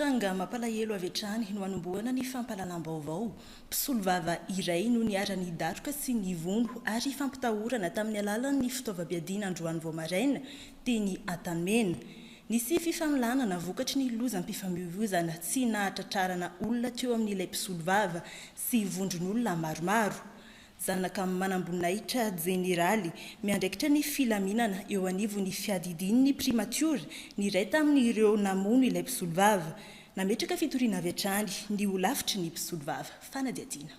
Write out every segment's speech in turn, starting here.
Tranga mampalahelo avy hatrany no hanombohana ny fampahalalam-baovao. Mpisolovava iray no niharan'ny daroka sy ny vono ary fampitahorana tamin'ny alalan'ny fitaovam-piadiana androany vao maraina, teny Antanimena. Nisy fifanolanana vokatry ny lozam-pifamoivoizana tsy nahatratrarana olona teo amin'ilay mpisolovava sy vondron'olona maromaro. Zanaka manamboninahitra jeneraly, miandraikitra ny filaminana eo anivon'ny fiadidian'ny primatiora ny iray tamin'ireo namono ilay mpisolovava. Nametraka fitoriana avy hatrany ny holafitry ny mpisolovava. Fanadihadiana.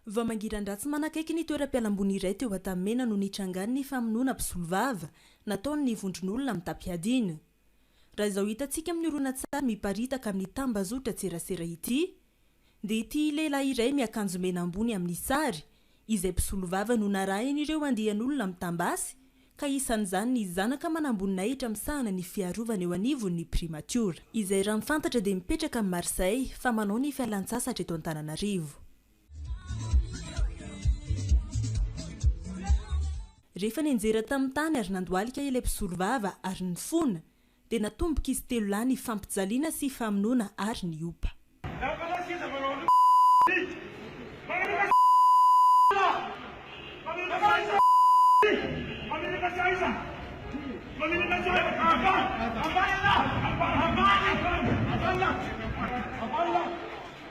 Vao mangiran-dratsy manakaiky ny toeram-pialamboly iray teo Antanimena no nitrangan'ny famonoana mpisolovava nataon'ny vondron'olona mitam-piadiana. Raha izao hitantsika amin'ny horonantsary miparitaka amin'ny tambazotran-tserasera ity dia ity lehilahy iray miakanjo mena ambony amin'ny sary izay mpisolovava no narahin'ireo andian'olona mitam-basy ka isan'izany ny zanaka manamboninahitra misahana ny fiarovana eo anivon'ny primatiora izay raha ny fantatra dia mipetraka amin'i Marseille fa manao ny fialantsasatra eto Antananarivo. Rehefa nianjera tamin'ny tany ary nandohalika ilay mpisolovava ary nifona, dia natomboka izy telo lahy nifampijaliana sy famonoana ary niopa.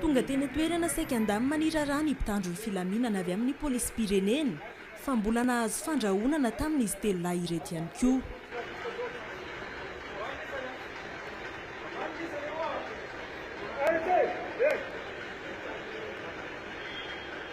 Tonga teny an-toerana saika an-damy maniraraha ny mpitandro ny filaminana avy amin'ny polisim-pirenena, fa mbola nahazo fandrahonana taminy izy telo lahy ireto ihany koa.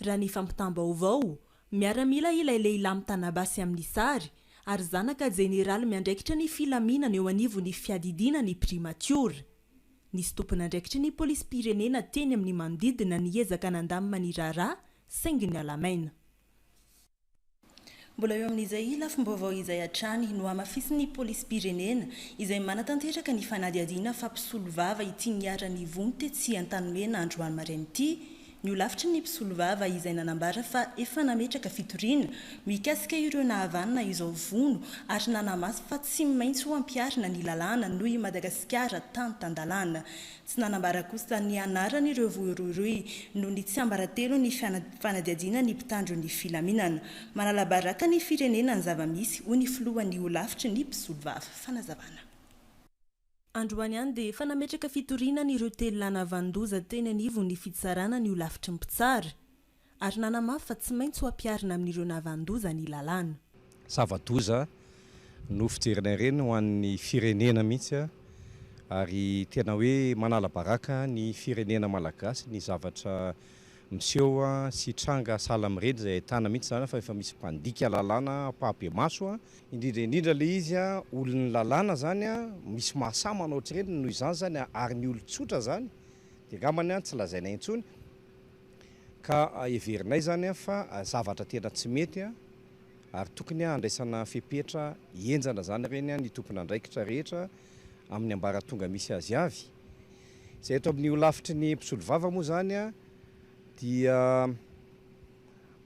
Raha ny fampitam-baovao, miaramila ilay lehilahy mitana basy amin'ny sary ary zanaka jeneraly miandraikitra ny filaminana eo anivon'ny fiadidiana ny primatiora. Nisy tompon'andraikitry ny polisim-pirenena teny amin'ny manodidina niezaka nandamina ny raharaha saingy niala-maina. Mbola eo amin'izay lafim-baovao izay hatrany, nohamafisin'ny polisim-pirenena, izay manatanteraka ny fanadihadiana fa mpisolovava ity niharan'ny vono tetsy Antanimena androany maraina ity, ny holafitry ny mpisolovava izay nanambara fa efa nametraka fitoriana mikasika ireo nahavanona izao vono ary nanamafy fa tsy maintsy ho ampiharina ny lalàna noho i Madagasikara tany tan-dalàna. Tsy nanambara kosa ny anaran' ireo voiroiroy noho ny tsiambaratelo ny fanadihadiana ny mpitandro ny filaminana. Manalabaraka ny firenena ny zava-misy, hoy ny filohan' ny holafitry ny mpisolovava. Fanazavana. Androany ihany dia efa nametraka fitoriana an' ireo telo lahy navanon-doza teny anivon' ny fitsarana ny holafitry ny mpitsara. Ary nanamafy fa tsy maintsy ho ampiharina amin'ireo nahavanon-doza ny lalàna. Zava-doza no fijerina ireny ho an'ny firenena mihitsy ary tena hoe manala baraka ny firenena malagasy ny zavatra miseho sy tranga sahala amin'ireny izay ahitana mihitsy izany fa efa misy mpandika lalàna ampahibemaso, indrindra indrindra ilay izy olon'ny lalàna izany, misy mahasahy manao ohatr'ireny noho izany izany ary ny olon-tsotra izany dia angambany tsy lazaina intsony. Ka heverinay izany fa zavatra tena tsy mety ary tokony handraisana fepetra henjana izany ireny ny tompon'andraikitra rehetra amin'ny ambaratonga misy azy avy. Izay eto amin'ny holafitry ny mpisolovava moa izany dia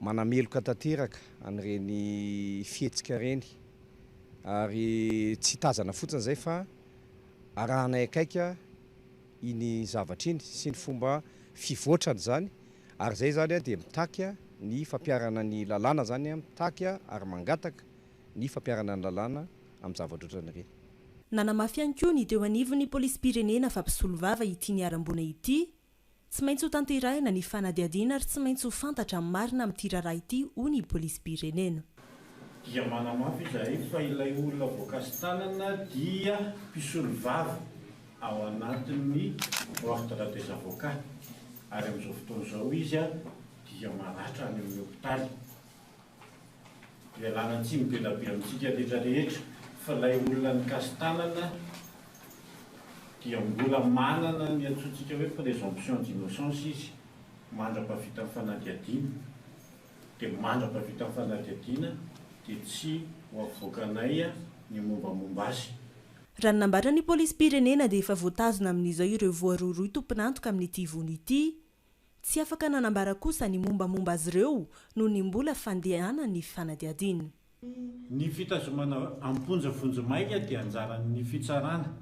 manameloka tanteraka an'ireny fihetsika ireny ary tsy tazana fotsiny izay fa arahanay akaiky iny zavatra iny sy ny fomba fivoatrany izany ary izay izany dia mitaky ny fampiharana ny lalàna izany mitaky ary mangataka ny fampiharana ny lalàna amin'ny zavatra ohatran'ireny. Nanamafy ihany koa ny teo anivon'ny polisim-pirenena fa mpisolovava ity niharam-boina ity, tsy maintsy hotanterahina ny fanadihadiana ary tsy maintsy ho fantatra ny marina amin'ity raharaha ity hoy ny polisim-pirenena. Dia manamafy izahay fa ilay olona voakasi-tanana dia mpisolovava. ao anatin'ny Ordre des Avocats ary amin'izao fotoana izao izy dia maratra any amin'ny hopitaly. Ialana tsiny be dia be amintsika rehetra rehetra fa ilay olona nikasi-tanana dia mbola manana ny antsointsika hoe présomption d'innocence izy mandra-pavitan'ny fanadihadiana, dia mandra-pavitan'ny fanadihadiana dia tsy ho avoakanay ny mombamomba azy. Raha ny nambaran'ny polisim-pirenena dia efa voatazona amin'izao ireo voarohirohy tompon'antoka amin'ity vono ity. Tsy afaka nanambara kosa ny mombamomba azy ireo noho ny mbola fandehanan'ny fanadihadiana. Ny fitazomana am-ponja vonjimaika dia anjaran'ny fitsarana.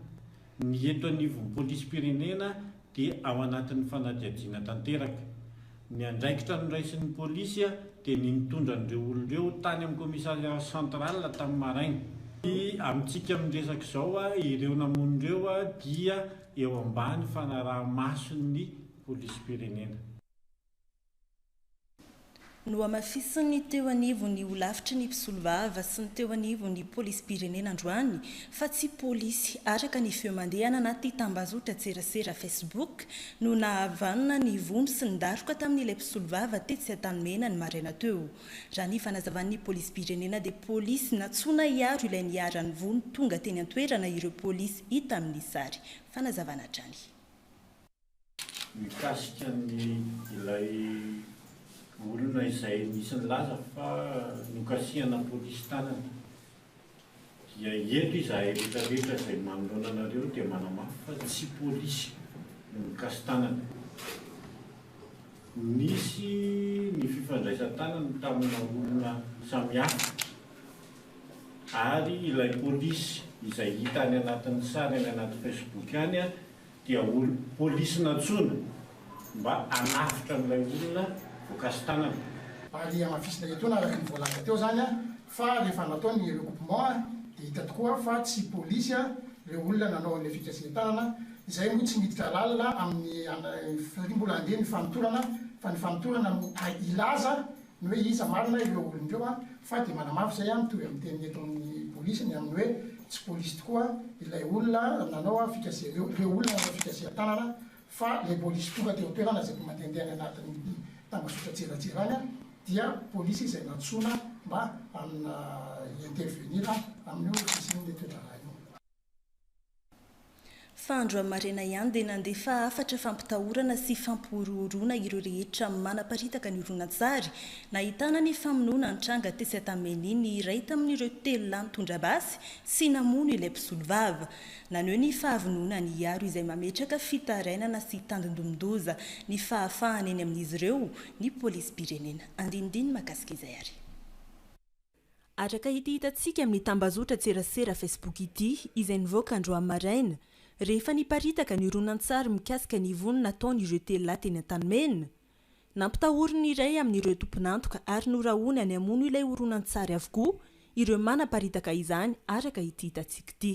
Ny eto anivon'ny polisim-pirenena dia ao anatin'ny fanadihadiana tanteraka. Ny andraikitra noraisin'ny polisy dia ny nitondra an'ireo olona ireo tany amin'ny commissariat central tamin'ny maraina. Ny amintsika amin'ny resaka izao, ireo namono ireo dia eo ambany fanaraha-mason'ny polisim-pirenena. Nohamafisin'ny teo anivon'ny Holafitry ny Mpisolovava sy ny teo anivon'ny Polisim-pirenena androany fa tsy polisy araka ny feo mandeha any anaty tambazotran-tserasera Facebook no nahavanona ny vono sy ny daroka tamin'ilay mpisolovava tetsy Antanimena ny maraina teo. Raha ny fanazavan'ny Polisim-pirenena dia polisy nantsoina hiaro ilay niharan'ny vono tonga teny an-toerana ireo polisy hita amin'ny sary fanazavana hatrany. mikasika ny ilay olona izay nisy nilaza fa nokasihana polisy tanana dia eto izahay rehetra rehetra izay manoloana anareo dia manamafy fa tsy polisy no nikasi-tanana. Nisy ny fifandraisan-tanana tamina olona samihafa ary ilay polisy izay hita any anatin'ny sary any anaty Facebook any dia ho polisy nantsoina mba hanafotra an'ilay olona voakasi-tanana. Ary hamafisina etoana araka ny voalaza teo izany fa rehefa natao ny recoupement dia hita tokoa fa tsy polisy ireo olona nanao an'ilay fikasihan-tanana, izay moa tsy miditra lalina amin'ny, satria mbola andeha ny fanotorana, fa ny fanotorana no hilaza ny hoe iza marina ireo olona ireo an, fa dia manamafy izay an, mitovy amin'ny teniny eto amin'ny polisy ny amin'ny hoe tsy polisy tokoa ilay olona nanao an fikasihana io, ireo olona nanao fikasihan-tanana fa ilay polisy tonga teo an-toerana izay mandehandeha any anatin'ny tambazotra an-tselatselany an dia polisy izay nantsoina mba hanna intervenir an amin'io fisian'ilay toe-draharaha io. Fa andro amin' maraina ihany dia nandefa hafatra fampitahorana sy fampihorohoroana ireo rehetra manaparitaka ny horonantsary nahitana ny famonoana nitranga tetsy Antameni ny iray tamin' ireo telo lahy nitondra basy sy namono ilay mpisolovava. Naneho ny fahavononany hiaro izay mametraka fitarainana sy tandindomin-doza ny fahafahany eny amin' izy ireo ny Polisim-pirenena. Andinindiny makasika izay ary. Araka ity hitantsika amin'ny tambazotran-tserasera Facebook ity, izay nivoaka androany maraina, rehefa niparitaka ny horonantsary mikasika ny vono nataon'ireo telo lahy teny Antanimena, nampitahoriny ny iray amin'ireo tompon'antoka ary norahony any hamono ilay horonantsary avokoa ireo manaparitaka izany araka ity hitantsika ity.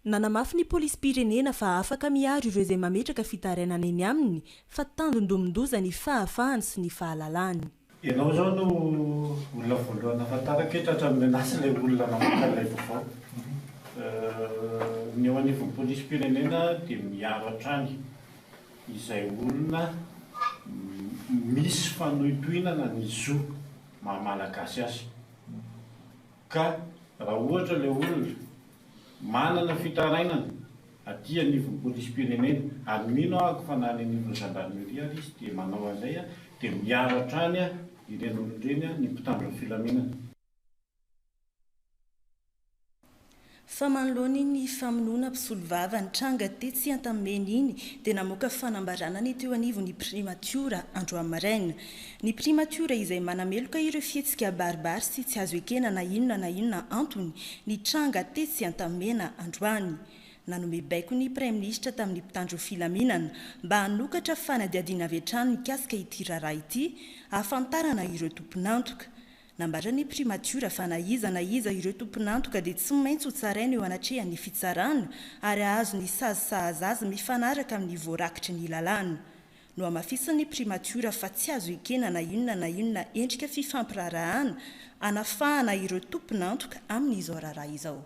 Nanamafy ny polisim-pirenena fa afaka miaro ireo izay mametraka fitarainana eny aminy fa tanjon-domin-doza ny fahafahany sy ny fahalalany. Ianao izao no olona voalohany nahafantarako hoe tratran'ny menace ilay olona namoaka ilay vaovao. Ny eo anivon'ny polisim-pirenena dia miaro hatrany izay olona misy fanohintohinana ny zo maha-malagasy azy. Ka raha ohatra ilay olona manana fitarainana aty anivon'ny polisim-pirenena, ary mino aho fa na any anivon'ny gendarmerie ary izy dia manao an'izay, dia miaro hatrany ireny olona ireny ny mpitandro ny filaminana. Fa manoloana iny famonoana mpisolovava nitranga tetsy Antanimena iny dia namoaka fanambarana ny teo anivon'ny Primatiora androany maraina. Ny Primatiora izay manameloka ireo fihetsika baribary sy tsy azo ekena na inona na inona antony nitranga tetsy Antanimena androany. Nanome baiko ny Praiminisitra tamin'ny mpitandro filaminana mba hanokatra fanadihadiana avy hatrany mikasika ity raharaha ity hahafantarana ireo tompon'antoka. Nambaran'ny Primatiora fa na iza na iza ireo tompon'antoka dia tsy maintsy ho tsaraina eo anatrehan'ny fitsarana ary hahazo ny sazy sahaza azy mifanaraka amin'ny voarakitry ny lalàna. Nohamafisin'ny Primatiora fa tsy azo ekena na inona na inona endrika fifampiraharahana hanafahana ireo tompon'antoka amin'izao raharaha izao.